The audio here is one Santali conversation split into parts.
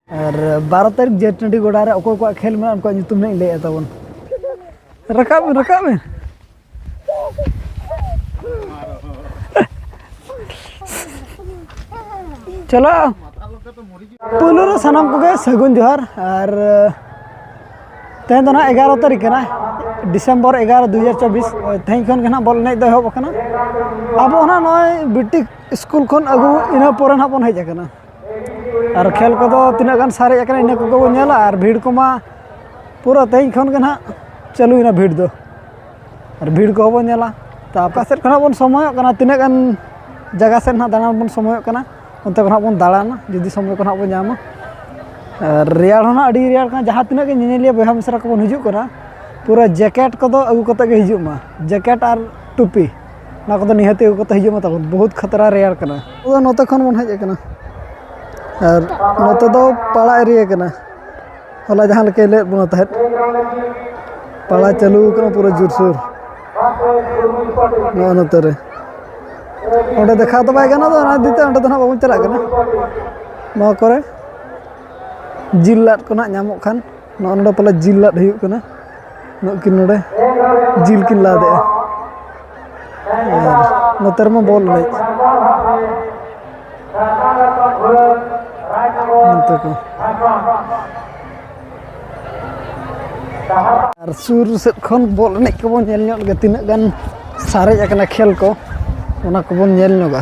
ᱟᱨ ᱵᱟᱨᱚ ᱛᱟᱹᱨᱤᱠᱷ ᱡᱮ ᱴᱟᱺᱰᱤ ᱜᱚᱰᱟ ᱨᱮ ᱚᱠᱚᱭ ᱠᱚᱣᱟᱜ ᱠᱷᱮᱞ ᱢᱮᱱᱟᱜᱼᱟ ᱩᱱᱠᱩᱣᱟᱜ ᱧᱩᱛᱩᱢ ᱦᱟᱸᱜ ᱤᱧ ᱞᱟᱹᱭᱮᱫ ᱛᱟᱵᱚᱱ ᱨᱟᱠᱟᱵ ᱢᱮ ᱨᱟᱠᱟᱵ ᱢᱮ ᱪᱚᱞᱚ ᱯᱩᱭᱞᱩ ᱨᱮ ᱥᱟᱱᱟᱢ ᱠᱚᱜᱮ ᱥᱟᱹᱜᱩᱱ ᱡᱚᱦᱟᱨ ᱟᱨ ᱛᱮᱦᱮᱧ ᱫᱚ ᱱᱟᱦᱟᱜ ᱮᱜᱟᱨᱚ ᱛᱟᱹᱨᱤᱠᱷ ᱠᱟᱱᱟ ᱰᱤᱥᱮᱢᱵᱚᱨ ᱮᱜᱟᱨᱚ ᱫᱩ ᱦᱟᱡᱟᱨ ᱪᱚᱵᱵᱤᱥ ᱛᱮᱦᱮᱧ ᱠᱷᱚᱱ ᱜᱮ ᱱᱟᱦᱟᱜ ᱵᱚᱞ ᱮᱱᱮᱡ ᱫᱚ ᱮᱦᱚᱵ ᱟᱠᱟᱱᱟ ᱟᱵᱚ ᱦᱚᱸ ᱱᱟᱦᱟᱜ ᱱᱚᱜᱼᱚᱭ ᱵᱤᱴᱤᱠ ᱥᱠᱩᱞ ᱠᱷᱚᱱ ᱟᱹᱜᱩ ᱤᱱᱟᱹ ᱯᱚᱨᱮ ᱱᱟᱦᱟᱜ ᱵᱚᱱ ᱦᱮᱡ ᱟᱠᱟᱱᱟ ᱟᱨ ᱠᱷᱮᱞ ᱠᱚᱫᱚ ᱛᱤᱱᱟᱹᱜ ᱜᱟᱱ ᱥᱟᱨᱮᱡ ᱟᱠᱟᱱᱟ ᱤᱱᱟᱹ ᱠᱚᱜᱮ ᱵᱚᱱ ᱧᱮᱞᱟ ᱟᱨ ᱵᱷᱤᱲ ᱠᱚᱢᱟ ᱯᱩᱨᱟᱹ ᱛᱮᱦᱮᱧ ᱠᱷᱚᱱ ᱜᱮ ᱱᱟᱦᱟᱜ ᱪᱟᱹᱞᱩᱭᱮᱱᱟ ᱵᱷᱤᱲ ᱫᱚ ᱟᱨ ᱵᱷᱤᱲ ᱠᱚᱦᱚᱸ ᱵᱚᱱ ᱧᱮᱞᱟ ᱛᱟ ᱚᱠᱟ ᱥᱮᱫ ᱠᱷᱚᱱᱟᱜ ᱵᱚᱱ ᱥᱚᱢᱚᱭᱚᱜ ᱠᱟᱱᱟ ᱛᱤᱱᱟᱹᱜ ᱜᱟᱱ ᱡᱟᱭᱜᱟ ᱥᱮᱫ ᱱᱟᱦᱟᱜ ᱫᱟᱬᱟᱱ ᱵᱚᱱ ᱥᱚᱢᱚᱭᱚᱜ ᱠᱟᱱᱟ ᱚᱱᱛᱮ ᱠᱷᱚᱱᱟᱜ ᱵᱚᱱ ᱫᱟᱬᱟᱱᱟ ᱡᱩᱫᱤ ᱥᱚᱢᱚᱭ ᱠᱚ ᱱᱟᱦᱟᱜ ᱵᱚᱱ ᱧᱟᱢᱟ ᱟᱨ ᱨᱮᱭᱟᱲ ᱦᱚᱸ ᱱᱟᱦᱟᱜ ᱟᱹᱰᱤ ᱨᱮᱭᱟᱲ ᱠᱟᱱᱟ ᱡᱟᱦᱟᱸ ᱛᱤᱱᱟᱹᱜ ᱜᱮ ᱧᱮᱧᱮᱞᱤᱭᱟᱹ ᱵᱚᱭᱦᱟ ᱢᱤᱥᱨᱟ ᱠᱚᱵᱚᱱ ᱦᱤᱡᱩᱜ ᱠᱟᱱᱟ ᱯᱩᱨᱟᱹ ᱡᱮᱠᱮᱴ ᱠᱚᱫᱚ ᱟᱹᱜᱩ ᱠᱟᱛᱮᱫ ᱜᱮ ᱦᱤᱡᱩᱜ ᱢᱟ ᱡᱮᱠᱮᱴ ᱟᱨ ᱴᱩᱯᱤ ᱚᱱᱟ ᱠᱚᱫᱚ ᱱᱤᱦᱟᱹᱛ ᱟᱹᱜᱩ ᱠᱟᱛᱮᱫ ᱦᱤᱡᱩᱜ ᱢᱮ ᱛᱟᱵᱚᱱ ᱵᱚᱦᱩᱛ ᱠᱷᱟᱛᱨᱟ ᱨᱮᱭᱟᱲ ᱠᱟᱱᱟ ᱟᱵᱚ ᱫᱚ ᱱᱚᱛᱮ ᱠᱷᱚᱱ ᱵᱚᱱ ᱦᱮᱡ ᱟᱠᱟᱱᱟ ᱟᱨ ᱱᱚᱛᱮ ᱫᱚ ᱯᱟᱲᱟ ᱮᱨᱤᱭᱟ ᱠᱟᱱᱟ ᱦᱚᱞᱟ ᱡᱟᱦᱟᱸ ᱞᱮᱠᱟᱭ ᱞᱟᱹᱭᱟᱫ ᱵᱚᱱᱟ ᱛᱟᱦᱮᱸᱫ ᱯᱟᱲᱟ ᱪᱟᱹᱞᱩ ᱟᱠᱟᱱᱟ ᱯᱩᱨᱟᱹ ᱡᱳᱨᱥᱳᱨ ᱱᱚᱜᱼᱚ ᱱᱚᱛᱮ ᱨᱮ ᱚᱸᱰᱮ ᱫᱮᱠᱷᱟᱣ ᱫᱚ ᱵᱟᱭ ᱜᱟᱱᱚᱜᱼᱟ ᱚᱱᱟ ᱤᱫᱤ ᱛᱮ ᱚᱸᱰᱮ ᱫᱚ ᱱᱟᱦᱟᱜ ᱵᱟᱵᱚᱱ ᱪᱟᱞᱟᱜ ᱠᱟᱱᱟ ᱱᱚᱣᱟ ᱠᱚᱨᱮ ᱡᱤᱞ ᱞᱟᱫ ᱠᱚ ᱱᱟᱦᱟᱜ ᱧᱟᱢᱚᱜ ᱠᱷᱟᱱ ᱱᱚᱜᱼᱚ ᱱᱚᱰᱮ ᱯᱟᱞᱮ ᱡᱤᱞ ᱞᱟᱫ ᱦᱩᱭᱩᱜ ᱠᱟᱱᱟ ᱱᱩᱠᱤᱱ ᱱᱚᱰᱮ ᱡᱤᱞ ᱠᱤᱱ ᱞᱟᱫᱮᱜᱼᱟ ᱟᱨ ᱱᱚᱛᱮ ᱨᱮᱢᱟ ᱵᱚᱞ ᱮᱱᱮᱡ ᱱᱚᱛᱮ ᱠᱚ ᱟᱨ ᱥᱩᱨ ᱥᱮᱫ ᱠᱷᱚᱱ ᱵᱚᱞ ᱮᱱᱮᱡ ᱠᱚᱵᱚᱱ ᱧᱮᱞ ᱧᱚᱜ ᱞᱮᱜᱮ ᱛᱤᱱᱟᱹᱜ ᱜᱟᱱ ᱥᱟᱨᱮᱡ ᱟᱠᱟᱱᱟ ᱠᱷᱮᱞ ᱠᱚ ᱚᱱᱟ ᱠᱚᱵᱚᱱ ᱧᱮᱞ ᱧᱚᱜᱟ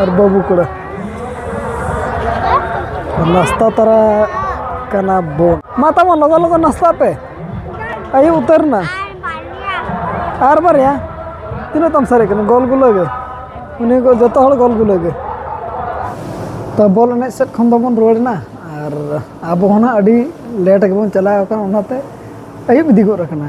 ᱟᱨ ᱵᱟᱹᱵᱩ ᱠᱚᱲᱟ ᱱᱟᱥᱛᱟ ᱛᱟᱨᱟ ᱠᱟᱱᱟ ᱵᱚᱱ ᱢᱟ ᱛᱟᱵᱚᱱ ᱞᱚᱜᱚ ᱞᱚᱜᱚ ᱱᱟᱥᱛᱟ ᱯᱮ ᱟᱹᱭᱩᱵ ᱩᱛᱟᱹᱨ ᱱᱟ ᱟᱨ ᱵᱟᱨᱭᱟ ᱛᱤᱱᱟᱹᱜ ᱛᱟᱢ ᱥᱟᱨᱮᱡ ᱠᱟᱱᱟ ᱜᱚᱞ ᱜᱩᱞᱟᱹ ᱜᱮ ᱩᱱᱤ ᱠᱚ ᱡᱚᱛᱚ ᱦᱚᱲ ᱜᱚᱞ ᱜᱩᱞᱟᱹ ᱜᱮ ᱛᱚ ᱵᱚᱞ ᱮᱱᱮᱡ ᱥᱮᱫ ᱠᱷᱚᱱ ᱫᱚᱵᱚᱱ ᱨᱩᱣᱟᱹᱲ ᱮᱱᱟ ᱟᱨ ᱟᱵᱚ ᱦᱚᱸ ᱱᱟᱜ ᱟᱹᱰᱤ ᱞᱮᱴ ᱜᱮᱵᱚᱱ ᱪᱟᱞᱟᱣ ᱟᱠᱟᱱᱟ ᱚᱱᱟᱛᱮ ᱟᱹᱭᱩᱵ ᱤᱫᱤ ᱜᱚᱫ ᱟᱠᱟᱱᱟ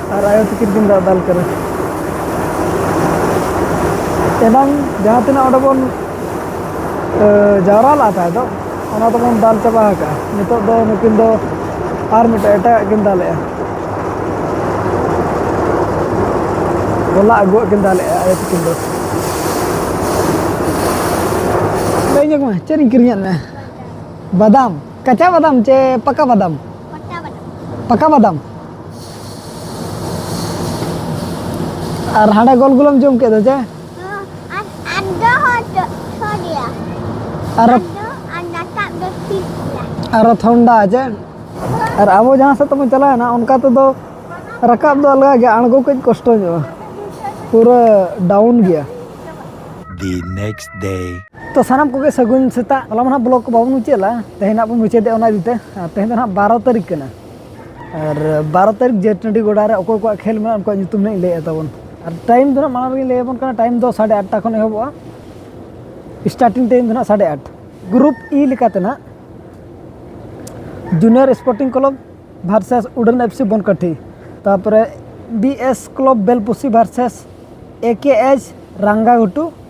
ᱟᱨ ᱟᱭᱳ ᱛᱤᱠᱤᱱ ᱠᱤᱱ ᱫᱟᱜ ᱫᱟᱞ ᱠᱟᱱᱟ ᱮᱱᱟᱝ ᱡᱟᱦᱟᱸ ᱛᱤᱱᱟᱹᱜ ᱚᱸᱰᱮ ᱵᱚᱱ ᱡᱟᱣᱨᱟ ᱞᱟᱜ ᱛᱟᱦᱮᱸ ᱫᱚ ᱚᱱᱟ ᱫᱚᱵᱚᱱ ᱫᱟᱞ ᱪᱟᱵᱟ ᱟᱠᱟᱫᱼᱟ ᱱᱤᱛᱚᱜ ᱫᱚ ᱱᱩᱠᱤᱱ ᱫᱚ ᱟᱨ ᱢᱤᱫᱴᱮᱱ ᱮᱴᱟᱜᱟᱜ ᱠᱤᱱ ᱫᱟᱞᱮᱜᱼᱟ ᱦᱚᱞᱟ ᱟᱹᱜᱩᱣᱟᱜ ᱠᱤᱱ ᱫᱟᱞᱮᱜᱼᱟ ᱟᱭᱳ ᱛᱤᱠᱤᱱ ᱫᱚ ᱞᱟᱹᱭ ᱧᱚᱜ ᱢᱮ ᱪᱮᱫ ᱤᱧ ᱠᱤᱨᱤᱧᱟᱫ ᱢᱮ ᱵᱟᱫᱟᱢ ᱠᱟᱪᱟ ᱵᱟᱫᱟᱢ ᱪᱮ ᱯᱟᱠᱟ ᱵᱟᱫᱟᱢ ᱯᱟᱠᱟ ᱵᱟᱫᱟᱢ ᱟᱨ ᱦᱟᱸᱰᱮ ᱜᱚᱞ ᱜᱩᱞᱟᱹᱢ ᱡᱚᱢ ᱠᱮᱫ ᱫᱚ ᱪᱮ ᱟᱨ ᱟᱨ ᱛᱷᱚᱱᱰᱟ ᱪᱮ ᱟᱨ ᱟᱵᱚ ᱡᱟᱦᱟᱸ ᱥᱮᱫ ᱛᱮᱵᱚᱱ ᱪᱟᱞᱟᱣᱮᱱᱟ ᱚᱱᱠᱟ ᱛᱮᱫᱚ ᱨᱟᱠᱟᱵ ᱫᱚ ᱟᱞᱜᱟ ᱜᱮᱭᱟ ᱟᱬᱜᱚ ᱠᱟᱹᱡ ᱠᱚᱥᱴᱚ ᱧᱚᱜᱼᱟ ᱯᱩᱨᱟᱹ ᱰᱟᱣᱩᱱ ᱜᱮᱭᱟ the next day ᱛᱚ ᱥᱟᱱᱟᱢ ᱠᱚᱜᱮ ᱥᱟᱹᱜᱩᱱ ᱥᱮᱛᱟᱜ ᱦᱚᱞᱟ ᱢᱟ ᱱᱟᱦᱟᱜ ᱵᱞᱚᱜ ᱠᱚ ᱵᱟᱵᱚᱱ ᱢᱩᱪᱟᱹᱫ ᱞᱮᱫᱟ ᱛᱮᱦᱮᱧ ᱱᱟᱦᱟᱜ ᱵᱚᱱ ᱢᱩᱪᱟᱹᱫᱮᱜᱼᱟ ᱚᱱᱟ ᱤᱫᱤᱛᱮ ᱛᱮᱦᱮᱧ ᱫᱚ ᱱᱟᱦᱟᱜ ᱵᱟᱨᱚ ᱛᱟᱹᱨᱤᱠᱷ ᱠᱟᱱᱟ ᱟᱨ ᱵᱟᱨᱚ ᱛᱟᱹᱨᱤᱠᱷ ᱡᱮ ᱴᱟᱺᱰᱤ ᱜᱚᱰᱟ ᱨᱮ ᱚᱠᱚᱭ ᱠᱚᱣᱟᱜ ᱠᱷᱮᱞ ᱢᱮᱱᱟᱜᱼᱟ ᱩᱱᱠᱩᱣᱟᱜ ᱧᱩᱛᱩᱢ ᱞᱤᱧ ᱞᱟᱹᱭᱮᱫ ᱛᱟᱵᱚᱱ ᱟᱨ ᱴᱟᱭᱤᱢ ᱫᱚ ᱦᱟᱸᱜ ᱢᱟᱲᱟᱝ ᱨᱮᱜᱮ ᱞᱟᱹᱭ ᱟᱵᱚᱱ ᱠᱟᱱᱟ ᱴᱟᱭᱤᱢ ᱫᱚ ᱥᱟᱲᱮ ᱟᱴᱴᱟ ᱠᱷᱚᱱ ᱮᱦᱚᱵᱚᱜᱼᱟ ᱥᱴᱟᱨᱴᱤᱝ ᱴᱟᱭᱤᱢ ᱫᱚ ᱦᱟᱸᱜ ᱥᱟᱲᱮ ᱟᱴ ᱜᱨᱩᱯ ᱤ ᱞᱮᱠᱟᱛᱮ ᱦᱟᱸᱜ ᱡᱩᱱᱤᱭᱟᱨ ᱥᱯᱳᱨᱴᱤᱝ ᱠᱞᱟᱵᱽ ᱵᱷᱟᱨᱥᱮᱥ ᱩᱰᱟᱹᱱ ᱮᱯᱷ ᱥᱤ ᱵᱚᱱᱠᱟᱴᱷᱤ ᱛᱟᱨᱯᱚᱨᱮ B S club Belpusi versus A K H Rangaghutu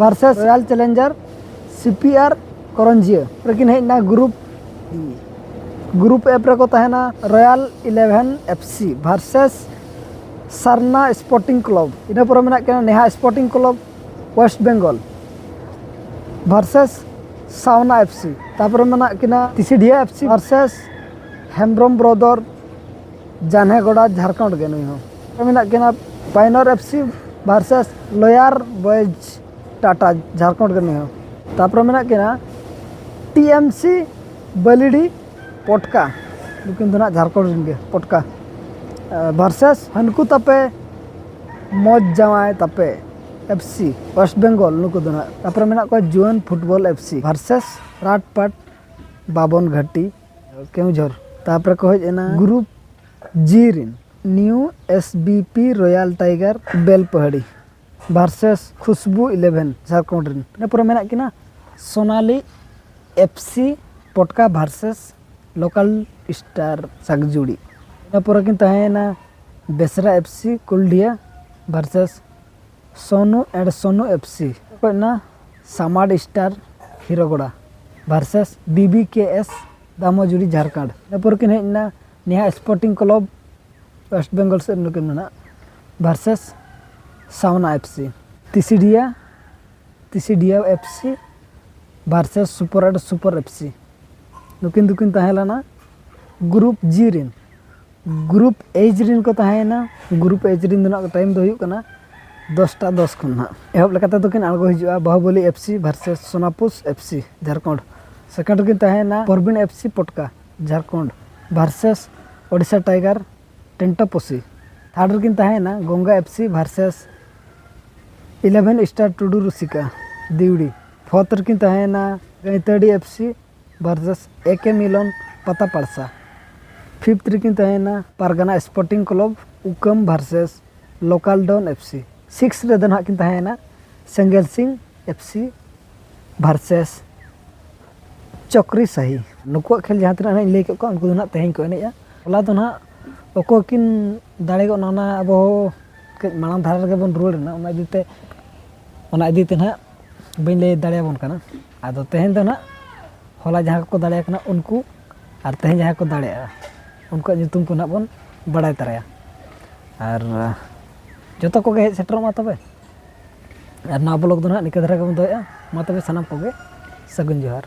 versus royal challenger C P R Koranjia ᱨᱮᱠᱤᱱ ᱦᱮᱡ ᱮᱱᱟ ᱜᱨᱩᱯ ᱜᱨᱩᱯ ᱮᱯ ᱨᱮᱠᱚ ᱛᱟᱦᱮᱱᱟ royal eleven F C versus Sarna sporting club ᱤᱱᱟᱹ ᱯᱚᱨᱮ ᱢᱮᱱᱟᱜ ᱠᱤᱱᱟ ᱱᱮᱦᱟ sporting club west Bengal versus Sawna F C ᱛᱟᱨᱯᱚᱨᱮ ᱢᱮᱱᱟᱜ ᱠᱤᱱᱟ Tisidiha F C versus Hembrom brother Janhe Goda Jharkhand ᱜᱮ ᱱᱩᱭ ᱦᱚᱸ ᱢᱮᱱᱟᱜ ᱠᱤᱱᱟ Painor F C versus Loyar boys Tata Jharkhand ᱜᱮ ᱱᱩᱭ ᱦᱚᱸ ᱛᱟᱨᱯᱚᱨᱮ ᱢᱮᱱᱟᱜ ᱠᱤᱱᱟ ᱴᱤ ᱮᱢ ᱥᱤ ᱵᱟᱹᱞᱤᱰᱤ ᱯᱚᱴᱠᱟ ᱱᱩᱠᱤᱱ ᱫᱚ ᱱᱟᱜ ᱡᱷᱟᱲᱠᱷᱚᱸᱰ ᱨᱮᱱ ᱜᱮ ᱯᱚᱴᱠᱟ ᱵᱷᱟᱨᱥᱮᱥ ᱦᱟᱹᱱᱠᱩ ᱛᱟᱯᱮ ᱢᱚᱡᱽ ᱡᱟᱶᱟᱭ ᱛᱟᱯᱮ ᱮᱯᱷ ᱥᱤ ᱳᱭᱮᱥᱴ ᱵᱮᱝᱜᱚᱞ ᱱᱩᱠᱩ ᱫᱚ ᱱᱟᱜ ᱛᱟᱨᱯᱚᱨᱮ ᱢᱮᱱᱟᱜ ᱠᱚᱣᱟ ᱡᱩᱣᱟᱹᱱ ᱯᱷᱩᱴᱵᱚᱞ ᱮᱯᱷ ᱥᱤ ᱵᱷᱟᱨᱥᱮᱥ ᱨᱟᱴᱯᱟᱴ ᱵᱟᱵᱚᱱ ᱜᱷᱟᱴᱤ ᱠᱮᱣᱡᱷᱚᱨ ᱛᱟᱯᱚᱨᱮ ᱠᱚ ᱦᱮᱡ ᱮᱱᱟ ᱜᱨᱩᱯ ᱡᱤ ᱨᱤᱱ new S B P royal tiger Belpahari versus ᱠᱷᱩᱥᱵᱩ ᱤᱞᱮᱵᱷᱮᱱ ᱡᱷᱟᱲᱠᱷᱚᱸᱰ ᱨᱤᱱ ᱤᱱᱟᱹ ᱯᱚᱨᱮ ᱢᱮᱱᱟᱜ ᱠᱤᱱᱟ Sonali F C Potka versus local star Sagjuri ᱤᱱᱟᱹ ᱯᱚᱨᱮ ᱠᱤᱱ ᱛᱟᱦᱮᱸᱭᱮᱱᱟ Besra F C Kuldiha versus Sonu and Sonu F C ᱚᱠᱚᱭ ᱚᱱᱟ Samar star hero Gora versus B B K S Damojuri Jharkhand ᱤᱱᱟᱹ ᱯᱚᱨ ᱠᱤᱱ ᱦᱮᱡ ᱮᱱᱟ ᱱᱮᱦᱟ ᱥᱯᱳᱨᱴᱤᱝ ᱠᱞᱚᱵᱽ ᱳᱭᱮᱥᱴ ᱵᱮᱝᱜᱚᱞ ᱥᱮᱫ ᱱᱩᱠᱤᱱ ᱢᱮᱱᱟᱜ versus Sawna F C Tisidiya Tisidiya F C versus super and super F C ᱱᱩᱠᱤᱱ ᱫᱚᱠᱤᱱ ᱛᱟᱦᱮᱸ ᱞᱮᱱᱟ ᱜᱨᱩᱯ ᱡᱤ ᱨᱮᱱ ᱜᱨᱩᱯ ᱮᱡᱽ ᱨᱮᱱ ᱠᱚ ᱛᱟᱦᱮᱸᱭᱮᱱᱟ ᱜᱨᱩᱯ ᱮᱡᱽ ᱨᱮᱱ ᱫᱚ ᱱᱟᱦᱟᱜ ᱴᱟᱭᱤᱢ ᱫᱚ ᱦᱩᱭᱩᱜ ᱠᱟᱱᱟ ᱫᱚᱥᱴᱟ ᱫᱚᱥ ᱠᱷᱚᱱ ᱱᱟᱦᱟᱜ ᱮᱦᱚᱵ ᱞᱮᱠᱟ ᱛᱮᱫᱚ ᱠᱤᱱ ᱟᱬᱜᱚ ᱦᱤᱡᱩᱜᱼᱟ Bahuboli F C versus ᱥᱳᱱᱟᱯᱩᱥ F C Jharkhand second ᱨᱮᱠᱤᱱ ᱛᱟᱦᱮᱸᱭᱮᱱᱟ Parbin F C Potka Jharkhand versus Odisha tiger Tentaposi third ᱨᱮᱠᱤᱱ ᱛᱟᱦᱮᱸᱭᱮᱱᱟ Ganga F C versus eleven star Tudu Rusika Diwri fourth ᱨᱮᱠᱤᱱ ᱛᱟᱦᱮᱸᱭᱮᱱᱟ ᱜᱟᱹᱭᱛᱟᱹᱰᱤ ᱮᱯᱷ ᱥᱤ ᱵᱷᱟᱨᱥᱮᱥ ᱮ ᱠᱮ ᱢᱤᱞᱚᱱ ᱯᱟᱛᱟ ᱯᱟᱲᱥᱟ ᱯᱷᱤᱯᱛᱷ ᱨᱮᱠᱤᱱ ᱛᱟᱦᱮᱸᱭᱮᱱᱟ ᱯᱟᱨᱜᱟᱱᱟ ᱥᱯᱳᱨᱴᱤᱝ ᱠᱞᱟᱵᱽ ᱩᱠᱟᱹᱢ versus local don F C six ᱨᱮᱫᱚ ᱱᱟᱦᱟᱜ ᱠᱤᱱ ᱛᱟᱦᱮᱸᱭᱮᱱᱟ ᱥᱮᱸᱜᱮᱞ ᱥᱤᱝ ᱮᱯᱷ ᱥᱤ ᱵᱷᱟᱨᱥᱮᱥ ᱪᱚᱠᱨᱤ ᱥᱟᱦᱤ ᱱᱩᱠᱩᱣᱟᱜ ᱠᱷᱮᱞ ᱡᱟᱦᱟᱸ ᱛᱤᱱᱟᱹᱜ ᱤᱧ ᱞᱟᱹᱭ ᱠᱮᱫ ᱠᱚᱣᱟ ᱩᱱᱠᱩ ᱫᱚ ᱱᱟᱦᱟᱜ ᱛᱮᱦᱮᱧ ᱠᱚ ᱮᱱᱮᱡᱼᱟ ᱦᱚᱞᱟ ᱫᱚ ᱱᱟᱦᱟᱜ ᱚᱠᱚᱭ ᱠᱤᱱ ᱫᱟᱲᱮ ᱜᱚᱫ ᱱᱟ ᱚᱱᱟ ᱟᱵᱚ ᱠᱟᱹᱡ ᱢᱟᱲᱟᱝ ᱫᱷᱟᱨᱟ ᱨᱮᱜᱮ ᱵᱚᱱ ᱨᱩᱣᱟᱹᱲᱮᱱᱟ ᱚᱱᱟ ᱤᱫᱤᱛᱮ ᱚᱱᱟ ᱤᱫᱤᱛᱮ ᱱᱟᱦᱟᱜ ᱵᱟᱹᱧ ᱞᱟᱹᱭ ᱫᱟᱲᱮᱭᱟᱵᱚᱱ ᱠᱟᱱᱟ ᱟᱫᱚ ᱛᱮᱦᱮᱧ ᱫᱚ ᱱᱟᱦᱟᱜ ᱦᱚᱞᱟ ᱡᱟᱦᱟᱸ ᱠᱚᱠᱚ ᱫᱟᱲᱮ ᱟᱠᱟᱱᱟ ᱩᱱᱠᱩ ᱟᱨ ᱛᱮᱦᱮᱧ ᱡᱟᱦᱟᱸᱭ ᱠᱚ ᱫᱟᱲᱮᱭᱟᱜᱼᱟ ᱩᱱᱠᱩᱣᱟᱜ ᱧᱩᱛᱩᱢ ᱠᱚ ᱱᱟᱦᱟᱜ ᱵᱚᱱ ᱵᱟᱲᱟᱭ ᱛᱟᱨᱟᱭᱟ ᱟᱨ ᱡᱚᱛᱚ ᱠᱚᱜᱮ ᱦᱮᱡ ᱥᱮᱴᱮᱨᱚᱜ ᱢᱟ ᱛᱚᱵᱮ ᱟᱨ ᱱᱚᱣᱟ ᱵᱞᱚᱜᱽ ᱫᱚ ᱱᱟᱦᱟᱜ ᱱᱤᱝᱠᱟᱹ ᱫᱷᱟᱨᱟ ᱜᱮᱵᱚᱱ ᱫᱚᱦᱚᱭᱮᱜᱼᱟ ᱢᱟ ᱛᱚᱵᱮ ᱥᱟᱱᱟᱢ ᱠᱚᱜᱮ ᱥᱟᱹᱜᱩᱱ ᱡᱚᱦᱟᱨ